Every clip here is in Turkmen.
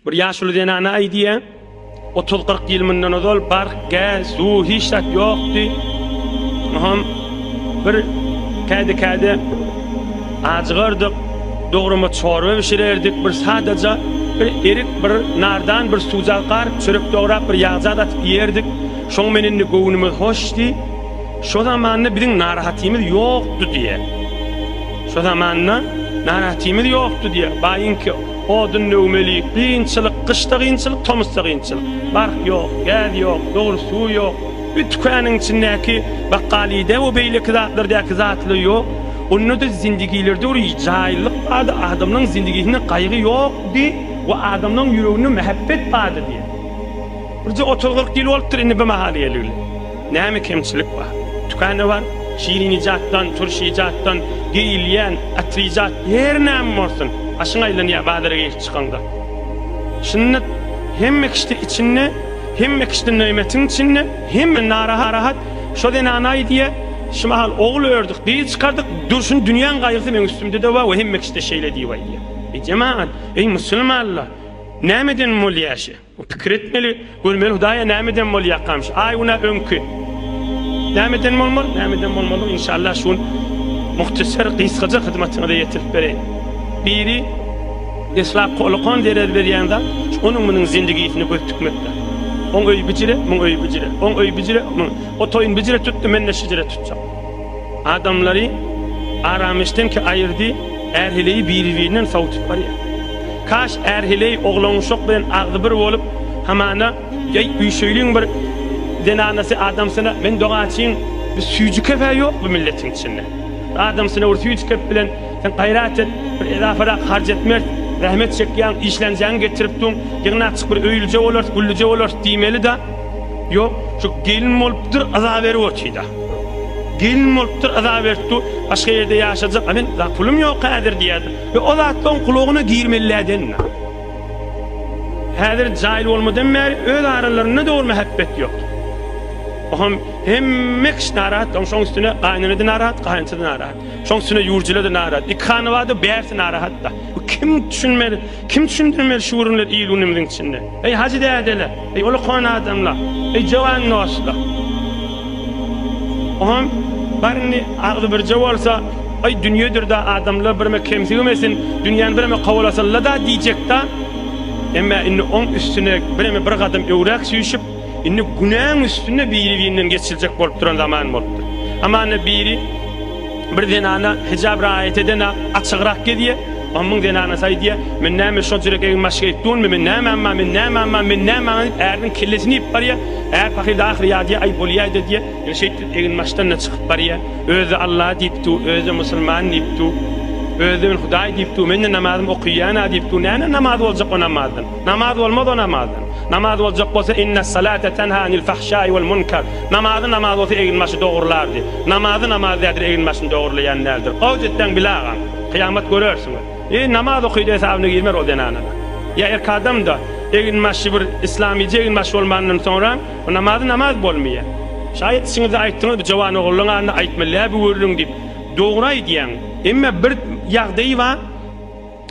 Bir ýaşuly zenana aýdýar, otuz-kyrk ýyl mundan ozal barh, gäz, suw hiç zat ýokdy. Oňam bir kädi-kädi ajygardyk, dograma çorba bişirerdik, bir sadaja bir erik, bir nardan, bir suwjak garyp, çörek dograp, bir ýagjak atyp iýerdik. Şoň men indi göwnümiz hoşdy. Şo zamanda biziň narahatymyz ýokdy diýýär. Şo zamanda narahatymyz ýokdy diýe. Baýyňky odun döwmeli, gynçylyk, gyşda gynçylyk, tomusda gynçylyk. Bark ýok, gäz ýok, dogry suw ýok. Bir tükaniň içindäki bakgalyda we beýleki zatlardaky zatly ýok. Onda-da zindigilerde bir jaýlylyk bardy, adamlaryň zindigisinde gaýgy ýokdy we adamlaryň ýüreginde mähebbet bardy diýe. Birje otuz-kyrk ýyl bolupdyr indi bu mahaly geleli. Näme kemçilik bar? Tükände bar, şirin ijatdan, turş ijatdan, geýilýän, atyr ijat, her näme bolsun, başyň aýlanýar bazara girip çykaňda. Şunda hemme kişide içinde, hemme kişide nöýmetiň içinde, hemme narahat, şo zenanaý diýe, şu mahal ogul ördük, gyz çykardyk, durşun dünýäň gaýgysy meň üstümde-de bar we hemme kişide şeýle diýip aýdýar. Eý jemagat, eý musulmanlar, nämeden bolýar şi? Pikir etmeli, görmeli Hudaýa nämeden bolýakamyş? Aý günä öňki. Nämeden bolmaly? Nämeden bolmaly? Inşallah şu gün muhtasar gysgaja hyzmatyňyza ýetirip bereýin. Biri deslap holakan zerer berýän zat, onuň munuň zindigisine göz tikmekdir. Oň öýi bijire, muň öýi bijire, oň öýi bijire, muň o toýun bijire tutdy, men-de şijire tutjak. Adamlary arameşdenki aýyrdy, ärheleýi biri-birinden sowudyp barýar. Kaş ärheleý oglanuşak bilen agzy bir bolup, hamana, Eý, üýşeýliň bir zenanasy adamsyna, men dogaçyň, bir süýji kep-ä ýok bu milletiň içinde. Bir adamsyna bir süýji kep bilen sen gaýrat et, bir edaparak harç etmeris, zähmet çekýäň, işlenjeňi getirip dur, ýygnakjyk bir öýlüje bolarys, güllüje bolarys diýmeli-dä. Ýok, şu gelin bolupdyr, yza berip otyda. Gelin bolupdyr, yza berip dur, başga ýerde ýaşajak, a men za pulum ýok häzir diýýärdi. Ýa o zatlaň gulagyna girmelilädenna. Häzir jaýyl bolmadan bäri öz aralarynda dogry mähebbet ýok. Oham hemme kişi narahat, oň şoň üstüne gaýnenede narahat, gaýynçada narahat. Şoň üstüne ýurjilede narahat. Iki hanabada bärsi narahatda. Bu kim düşünmeli, kim düşündirmeli şu günler il-günümiziň içinde. Eý, hajy dädeler! Eý uly kona adamlar, eý jowan dostlar. Oňam baryny agzy birje bolsa, Aý dünýedir-de adamlar birme kemsigimesin, dünýäni birme kowalasynla-da diýjek-de. Emme indi oň üstüne birme bir gadam öwräk süýşüp, indi günäň üstüne biri-birinden geçiljek bolup duran zaman bolupdyr. Hamana biri bir zenana hijap raýat eden-ä açygrak gezýär. Ommyň zenanasy aýdýa, Men näme şonça ýürek egin maşk etdunmi, men näme amma, men näme amma, men näme aňa diýip äriniň kellesini iýip barýa. Är pahyr-da ahyry ýadýa, Aý bolýaýda diýýä. Ýöne şeýtdip egin maşkdan-da çykyp barýa. Özi-de Alla diýip dur, özi-de musulman diýip dur. Özi-de men Hudaý diýip dur, men-de namazym okyýan-a diýip dur. Näme namaz boljak o namazdan? Namaz bolmaz o namazdan. Namaz boljak bolsa Innessalate tenha anil fahşai wal munkar. Namazy namaz bolsa egin maşy dogrulardy. Namazy namaz däldir egin maşyny dogurlaýan däldir. Gowy jetdeň Bile agaň. Kyýamat görersiňiz. Eý, namaz okyjy hesabyna girmer ol zenanana. Ýa erkek adam-da, eginbaşy bir yslamyjy eginbaş bolmandan soňra, bu namazy namaz bolmaýar. Şaýat içiňizde aýtdyňyz, bu jowan ogluň adyna aýtma, läbiwürlüň diýip. Dogry aýdýaň. Emma bir ýagdaý bar,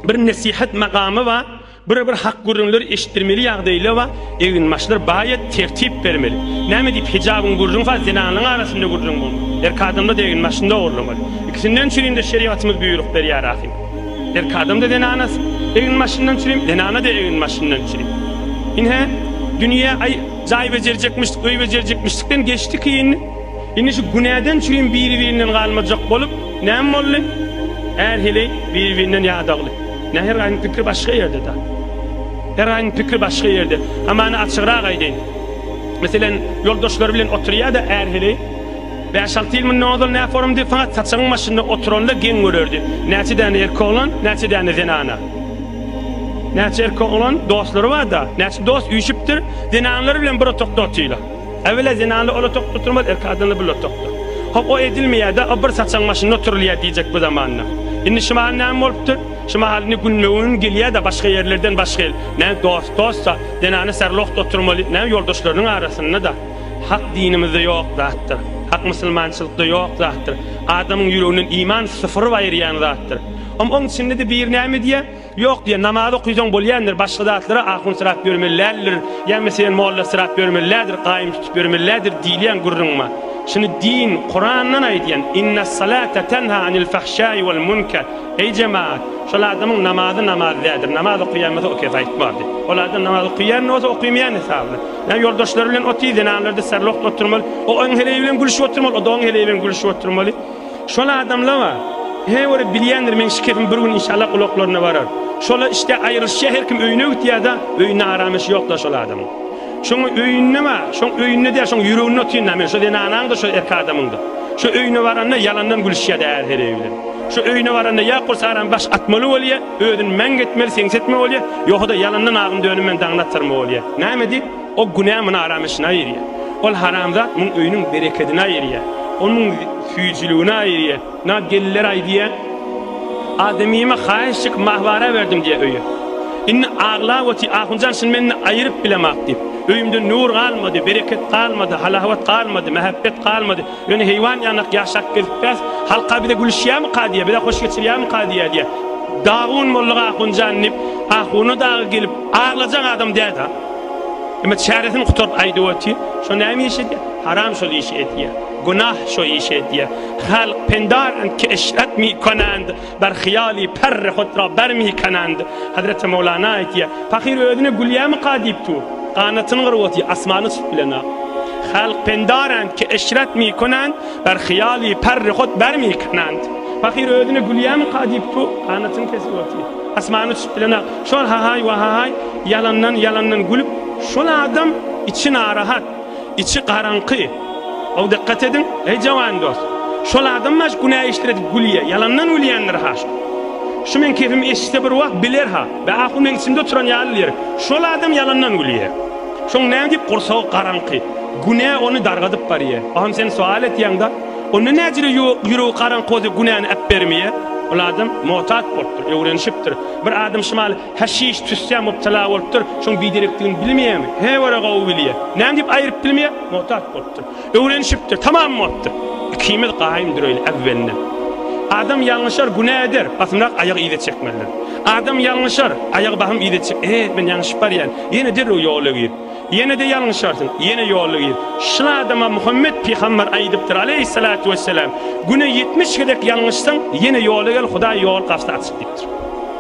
bir nesihat makamy bar. Bir bir hak gürrüňler eşitdirmeli ýagdaýla wa eginbaşlar baýat tertip bermeli. Näme diýip hijabyň gürrüň fa zenanlaň arasynda gürrüň bolmaly. Erki adamda da eginbaşynda ogurlamaly. Ikisinden çürin de şerigatymyz buýruk berýär ahim. Erki adam da zenanas eginbaşyndan çürim zenana da eginbaşyndan çürim. Inhe dünýe aý jaý bejerjekmişdik öý bejerjekmişdikden geçdi ki indi. Indi şu günäden çürim biri birinden galmajak bolup näme boldy? Är heleý biri birinden ýadagly. Nä her gaýyň pikri başga ýerde da. Her gaýyň pikri başga ýerde. Hamany açygrak aýdaýyn. Meselen, ýoldaşlary bilen oturýada är heleý. Bäş-alty ýyl mundan ozal nä forumdy, fakat saçagyň başynda oturanda geň görerdi. Näçe däne erkek oglan, näçe däne zenana. Näçe erkek oglan dostlary bar da, näçe dost üýşüpdir, zenanlary bilen bir otagda otyla. Äwelä zenanly olatok tutulmaz, erki adamly bir lotokdyr. Hop, o edilmeýär-dä, o bir saçagyň başynda oturylýar diýjek bu zamanda. Indi şu mahal näme bolupdyr? Şu mahal indi gündogan gelýär-de, başga ýerlerden başga el. Näme, dost-dost-da, zenana särlohda oturmaly, näme, ýoldaşlarynyň arasynda-da. Hak dinimizde ýok zatdyr. Hak musulmançylykda ýok zatdyr. Adamyň ýüreginden iman sypyryp aýyrýan zatdyr. Hom, oň içinde-de biri näme diýýär? Ýok diýen, namaz okyjaň bolýandyr, başga zatlara ahunsyrap ýörmellälidir, ýa meselem mollasyrap ýörmellädir, gaýym tutup ýörmellädir diýilýän gürrüňma. Şuny din, Kurandan aýdýan, Innessalate tenha anil fahşaý wal munker, eý jemagat, şol adamyň namazy namaz däldir, namaz okaýan bolsa oke zaýt bar diýip. Ol adam namaz okaýan-da bolsa, okaýmaýan hesabyna. Ýa ýoldaşlary bilen otyr, zenanlarda serlogt oturmaly, o oň heleýi bilen gülüşip oturmaly, o-da oň heleýi bilen gülüşip oturmaly. Şol adamlawa He görip bilýändir meň şikesim bir gün inşallah gulaklaryna barar. Şola işte aýrylyşýa her kim öýüne gitýada öýünde aramyş ýokda şol adamyň. Şoň öýünde wa şoň öýünde däl şoň ýüreginde otyrynda men şo zenanaňda şo erki adamyňda. Şo öýüne baranda ýalandan gülüşýada är hereý bilen. Şo öýüne baranda ýa kursaram baş atmaly bolýa özün mäňk etmeli seňsetme bolýa ýohada ýalandan agym dönüm men daňyny atarma bolýa. Näme diýip. O günä muny aramyşyny aýyrýar. Ol haramzat muň öýüniň berekedini aýyrýar. Ol muň süýjüligini aýyrýar. Na gelliler aýdýar, Ademime haýyş çekip mah-wara berdim diýýär öýe. Indi aglap otyr, Ahunjan şuny men indi aýyryp bilemok diýip. Öýümde nur galmady, bereket galmady, halawat galmady, mähebbet galmady. Ýöne heýwan ýanak ýaşap gezipbäs, halk-a bize gülüşýärmika diýýär, bize hoş geçirýärmika diýýär diýýär. Dagun boldyk Ahunjan diýip, Ahuna dagy gelip aglajan adam däl-de. Emme çäresini gutaryp aýdyp otyr. Şo näme iş edýär? Haram şol işi edýär. Günah şo işi edýär. Halk pendar ent ki eşret mi konand, bar hyýaly perre hotra bar mi kanand. Hazreti Mowlana aýtýar. Pahyr özüne gülýärmika diýip dur. Ganatyny gyryp otyr, asmana çykyp bilenok. Halk pendar ent ki eşret mi konand, bar hyýaly perre hot bar mi kanand. Pahyr özüne gülýärmika diýip dur. Ganatyny kesip otyr. Asmana çykyp bilenok. Şol hahaý wahahaý ýalandan ýalandan gülüp şol adam içi narahat içi garaňky ow dykgat ediň eý jawan dos şol adam baş günä işdir edip gülýä ýalandan gülýändir ha şo şu meň kepim eşitse bir wagt biler ha be ahu meň içimde oturan ýaly ýerik şol adam ýalandan gülýä şoň näme diýip gursagy garaňky günä ony dargadyp barýä ahym sen soal etýäň da onda näjire ýüregi garaňky bolsa günäni äpbermýä ol adam motat bolupdyr öwrenişipdir Bir adam şumal haşiş tüssä mubtala bolupdyr, şoň biderekdigini bilmeýärmi? Hä görä gowy bilýä. Näme diýip aýryp bilmeýär? Muhtaç bolupdyr. Öwrenişipdir, tamam bolupdyr. Ikimiz gaýym dureýli äwwelinden. Adam ýalňyşar, günä eder. Basymrak aýagy yza çekmelidir. Adam ýalňyşar, aýagy basym yza çek. E, men ýalňyşyp barýan. Ýene derrew ýola gir. Ýene-de ýalňyşarsyň, ýene ýola gir. Şul adama Muhammet pygamber aýdypdyr, aleýhissalatu wessalam, Güne ýetmiş gezek ýalňyşsaň, ýene ýola gel, Hudaý ýol gapysy açyk diýipdir.